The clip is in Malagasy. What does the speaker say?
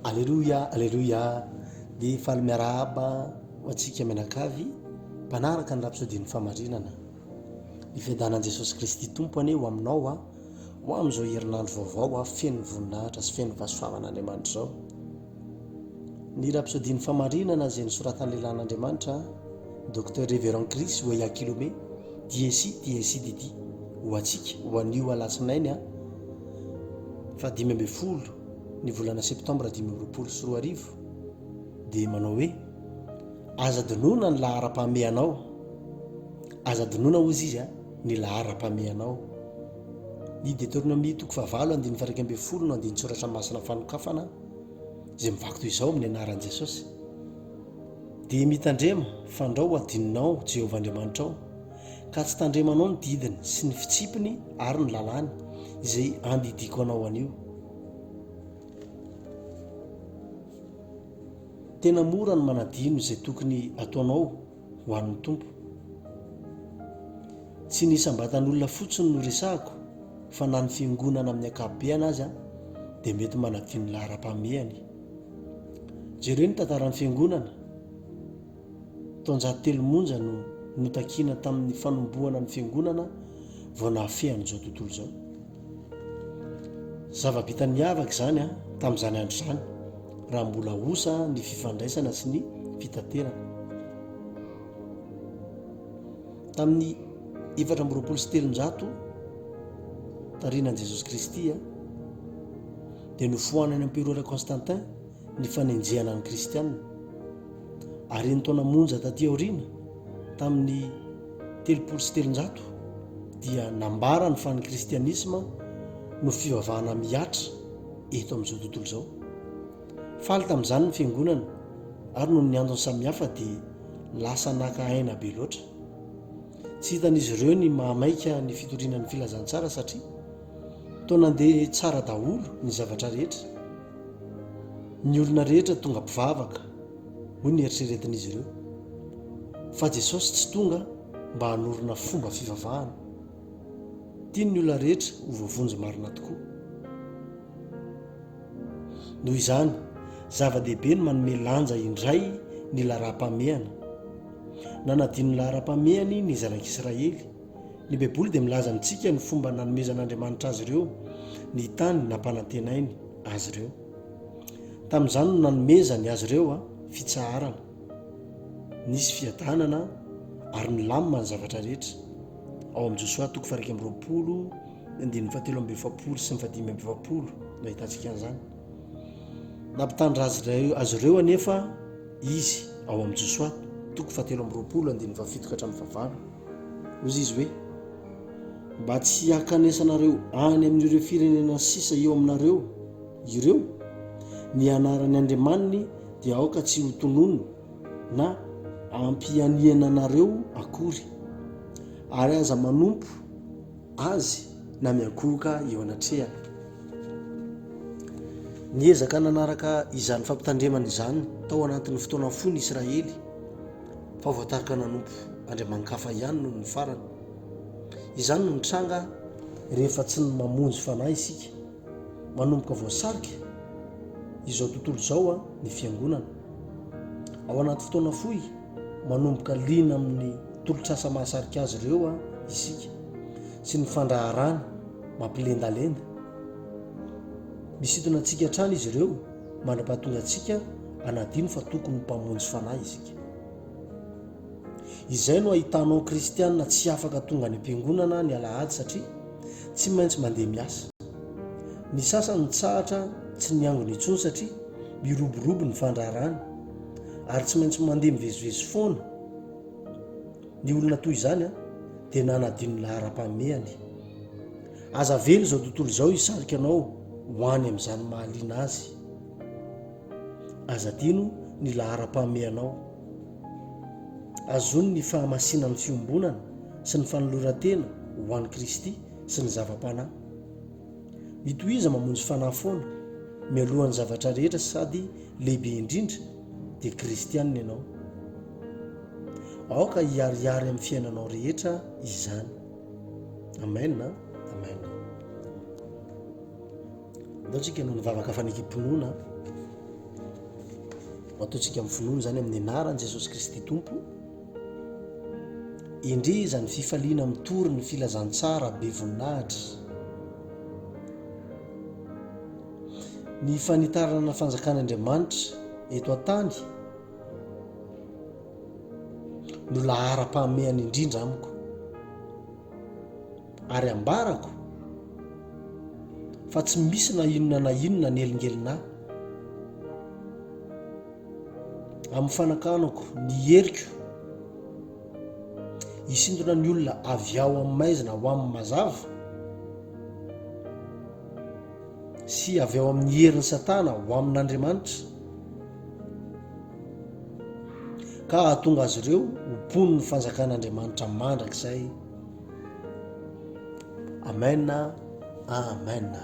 Aleloia aleloia dia faly miarahaba antsika mianakavy mpanaraka ny rapsôdin'ny famarinana ny fiadanan'i Jesosy Kristy Tompo anie ho aminao aho ho amin'izao herinandro vaovao aho feno voninahitra sy feno fahasoavana Andriamanitra izao ny rapsôdin'ny famarinana izay nosoratan'ny lehilahin'Andriamanitra Docteur Reverend Chris Weyakilome DSI TSIDD ho antsika ho anio alatsinainy a fahadimy ambin'ny folo ny volana septambra dimy amby roapolo sy roa arivo dia manao hoe aza adinoana ny laharam-pahamehanao aza adinoana hozy izy a ny laharam-pahamehanao ny detornomia toko fahavalo andin'ny faraika ambin'ny folo no andin'ny tsoratra masina fanokafana izay mivaky toy izao amin'ny anaran'i jesosy dia mitandrema fandrao adinonao jehovah andriamanitrao ka tsy tandremanao ny didiny sy ny fitsipiny ary ny lalàny izay andidiako anao anio. Tena mora ny manadino izay tokony ataonao ho an'ny Tompo. Tsy ny isam-batan'olona fotsiny no resahako fa na ny fiangonana amin'ny ankapobeany aza dia mety manadino laharam-pahamehany. Jereo ny tantaran'ny fiangonana. Taonjato telo monja no notakiana tamin'ny fanombohana ny Fiangonana vao nahafehy an'izao tontolo izao. Zava-bita niavaka izany tamin'izany andro izany, raha mbola osa ny fifandraisana sy ny fitaterana. Tamin'ny efatra amby roapolo sy telonjato taorianan'i Jesosy Kristy dia nofoanan'ny Emperora Constantin ny fanenjehana ny Kristianina, ary ny taona monja taty aoriana, tamin'ny telopolo sy telonjato, dia nambarany fa ny Kristianisma no fivavahana mihatra eto amin'izao tontolo izao. Faly tamin'izany ny Fiangonana, ary noho ny antony samihafa dia lasa naka aina be loatra. Tsy hitan'izy ireo ny mahamaika ny fitoriana ny Filazantsara satria, Toa nandeha tsara daholo ny zavatra rehetra. Ny olona rehetra tonga mpivavaka, hoy ny eritreretin'izy ireo. Fa Jesosy tsy tonga mba hanorina fomba fivavahana. Tiany ny olona rehetra ho voavonjy marina tokoa. Noho izany, zava-dehibe ny manome lanja indray ny laharam-pahamehana. Nanadino ny laharam-pahamehany ny Zanak'Israely. Ny Baiboly dia milaza amintsika ny fomba nanomezan'Andriamanitra azy ireo ny tany nampanantenainy azy ireo. Tamin'izany no nanomezany azy ireo fitsaharana. Nisy fiadanana ary nilamina ny zavatra rehetra. Ao amin'ny Josoa toko faha-iraika amby roapolo, ny andininy fahatelo amby efapolo sy ny fahadimy amby efapolo no ahitantsika an'izany. Nampitandra azy ireo azy ireo anefa izy ao amin'ny Josoa toko fahatelo amby roapolo, andininy fahafito ka hatramin'ny fahavalo. Hoy izy hoe, Mba tsy hakanesanareo any amin'ireo firenena sisa eo aminareo ireo, ny anaran'ny andriamaniny dia aoka tsy ho tononina na ampianiana anareo akory, ary aza manompo azy na miankohoka eo anatrehany. Niezaka nanaraka izany fampitandremana izany tao anatin'ny fotoana fohy ny Israely. fa voatarika nanompo andriamanikafa ihany nony ny farany. Izany no mitranga rehefa tsy ny mamonjy fanahy isika. Manomboka voasarika izao tontolo izao a, ny fiangonana. Ao anaty fotoana fohy, manomboka liana amin'ny tolotr'asa mahasarika azy ireo a, isika sy ny fandraharahany mampilendalenda. Misintona antsika hatrany izy ireo. Mandra-pahatonga antsika hanadino fa tokony mpamonjy fanahy isika. Izay no ahitanao kristiana tsy afaka tonga any am-piangonana ny alahady satria tsy maintsy mandeha miasa. Ny sasany mitsahatra tsy niangona intsony satria miroborobo ny fandraharahany ary tsy maintsy mandeha mivezivezy foana. Ny olona toy izany dia nanadino ny laharam-pahamehany. Aza avela izao tontolo izao hisarika anao ho any amin'izany mahaliana azy. Aza adino ny laharam-pahamehanao. Azony ny fahamasinan'ny fiombonana sy ny fanoloran-tena ho an'i Kristy sy ny zava-panahy. Mitohiza mamonjy fanahy foana, mialohan'ny zavatra rehetra sady lehibe indrindra dia kristiana ianao. Aoka hiharihary amin'ny fiainanao rehetra izany. Amen a! Amen a! Ndao tsika hanao ny vavaka fanekem-pinoana, matoantsika amin'ny finoana izany amin'ny anaran'i Jesosy Kristy Tompo. Endrey izany fifaliana mitory ny filazantsara be voninahitra. Ny fanitarana ny fanjakan'Andriamanitra eto an-tany. no laharam-pahamehana indrindra amiko ary ambarako fa tsy misy na inona na inona nelingelina ahy amin'ny fanakanako ny heriko hisintona ny olona avy ao amin'ny maizina ho amin'ny mazava sy avy ao amin'ny herin'ny satana ho amin'Andriamanitra ka hahatonga azy ireo ho mponin'ny fanjakan'Andriamanitra mandrakizay. Amena, amena.